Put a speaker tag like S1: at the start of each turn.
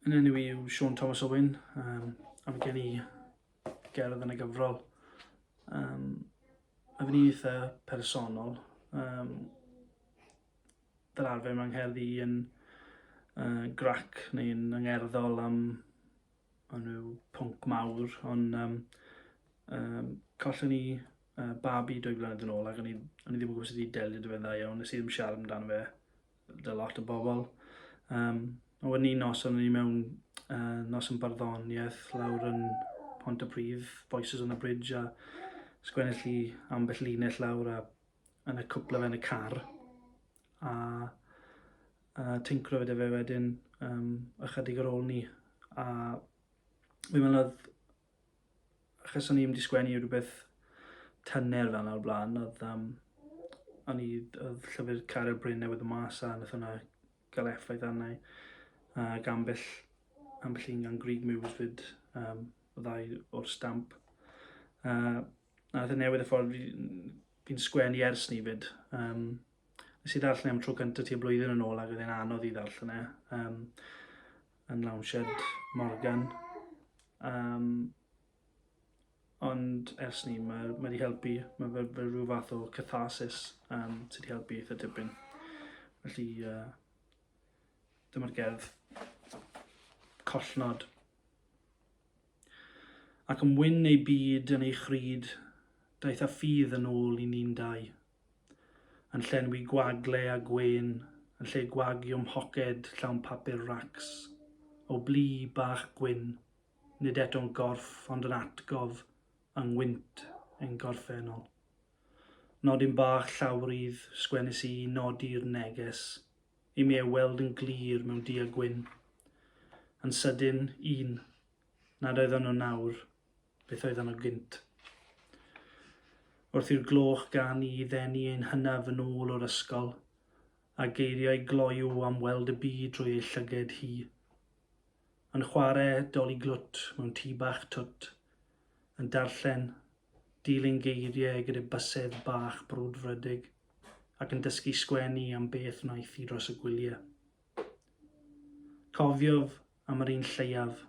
S1: Yn enw i yw Siôn Thomas Owen, um, a mae gen i gerdd yn y gyfrol. Um, a fi'n eitha personol. Um, fel arfer mae'n ngherdd i yn uh, grac neu'n yngerddol am nhw pwnc mawr, ond um, um, collon ni uh, babi dwy flynedd yn ôl ac o'n i, o'n i ddim yn gwybod sut i delio dy fe'n dda iawn, nes i ddim siarad amdano fe Dy lot o bobl. Um, a wedyn un nos, o'n i mewn uh, nos yn barddoniaeth lawr yn Pont y Prif, Voices on the Bridge, a sgwennill i ambell linell lawr a yn y cwpla fe yn y car. A, a tincro fe fe wedyn um, ychydig ar ôl ni. A fi'n meddwl oedd achos o'n i ddim wedi sgwennu rhywbeth tyner fel 'na o'r blaen, oedd um, o'n i, oedd llyfr Caryl Bryn newydd yn mas a nath hwnna gael effaith arna i. A gambell, ambell un gan Greg Muse fyd, um, y ddau o'r stamp. A, a nath e newydd y ffordd fi'n sgwennu ers ni fyd. Um, nes i ddarllen e am tro cyntaf ti y blwyddyn yn ôl ac oedd e'n anodd i ddarllen e. Um, yn Loungehead Morgan. Um, ond ers ni, mae ma wedi helpu, mae fe, fe rhyw fath o catharsis um, sydd wedi helpu eitha dipyn. Felly, uh, dyma'r gerdd collnod. Ac yn wyn ei byd yn ei chryd, daeth a ffydd yn ôl i ni'n dau. Yn llenwi gwagle a gwên yn lle gwagio mhoced llawn papur racs o blu bach gwyn, nid eto'n gorff ond yn atgof yng ngwynt ein gorffennol. Nodyn bach llawrydd, sgwennis i, nodi'r neges i mi ei weld yn glir mewn du a gwyn. Yn sydyn, un, nad oeddon nhw nawr, beth oedd yno gynt. Wrth i'r gloch gan i ddenu ein hynaf yn ôl o'r ysgol, a geiriau gloyw am weld y byd drwy ei llyged hi. Yn chwarae doli glwt mewn tŷ bach twt, yn darllen, dilyn geiriau gyda bysedd bach brwdfrydig, ac yn dysgu sgwennu am beth wnaeth hi dros y gwyliau. Cofiof am yr un lleiaf